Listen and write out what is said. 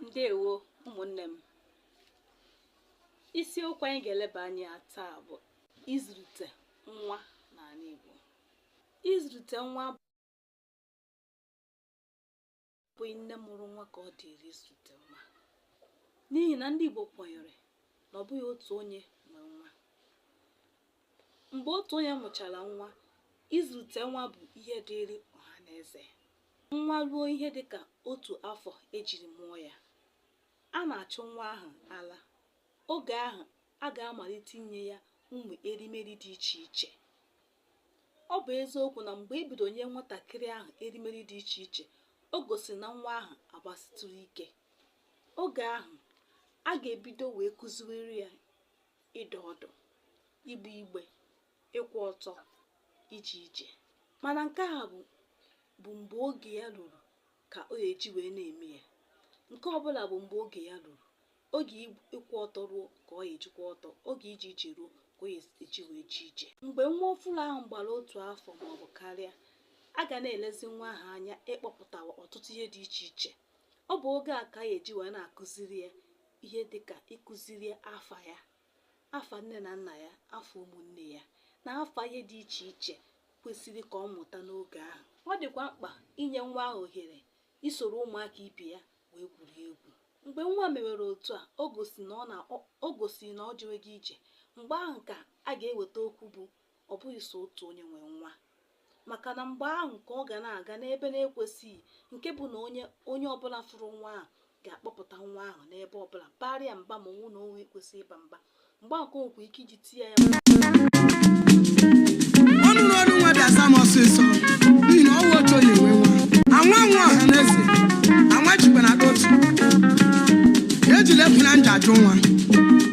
ndewo ụmụnne m isiokwu anyị ga-eleba anya taa bụ ịzụlite nwa n'ala Igbo ịzụlite nwa abụghị nne mụrụ nwa ka ọ dịrị ịzụlite nwa n'ihi na ndị Igbo kwenyere na ọ bụghị otu onye nwe nwa mgbe otu onye mụchara nwa ịzụlite nwa bụ ihe dịịrị ọha na eze Nwa ruo ihe dị ka otu afọ e jiri mụọ ya, a na-achụ nwa ahụ ala. Oge ahụ, a ga-amalite inye ya ụmụ erimeri dị iche iche. Ọ bụ eziokwu na mgbe e bidoro nye nwatakịrị ahụ erimeri dị iche iche, o gosiri na nwa ahụ agbasitụrụ ike. Oge ahụ, a ga-ebido wee kụziwere ya ịdọ ọdụ, igbe igbe, ịkwụ ọtọ ije ije mana nke a bụ bụ mgbe oge ya ruru ka ọ ga-eji wee na-eme ya nke ọbụla bụ mgbe oge ya ruru oge ịkwụ ọtọ ruo ka ọ ga-eji kwụ ọtọ oge ije ije ruo ka ọ ga-eji wee jee ije mgbe nwa ọfụrụ ahụ gbara otu afọ ma ọ bụ karịa a ga na-elezi nwa ahụ anya ịkpọpụtawa ọtụtụ ihe dị iche iche ọ bụ oge a ka a ga-eji wee na-akụziri ya ihe dị ka ịkụziri ya afa ya afa nne na nna ya afa ụmụnne ya na afa ihe dị iche iche kwesịrị ka ọ mụta n'oge ahụ ọ dịkwa mkpa inye nwa ahụ ohere isoro ụmụaka ibe ya wee gwurie egwu mgbe nwa mewere otu a o gosiri na o jewego ije mgbe ahụ ka a ga-eweta okwu bụ ọ bụghị so otu onye nwe nwa maka na mgbe ahụ ka ọ ga na-aga n'ebe na-ekwesịghị nke bụ na onye ọbụla fụrụ nwa ahụ ga-akpọpụta nwa ahụ n'ebe ọbụla baara ya mba ma ọ wụ na o nwe ekwesịghị ịba mba mgbe ahụ ka o nwekwa ike iji tie ya ọnụ na ọnụ nwa bịa sam ọsịsọ n'ihi na ọ wụghị otu onye nwe nwa anwa nwa ọha na eze anwa jikwa na otu ejila efu na nja ajụ nwa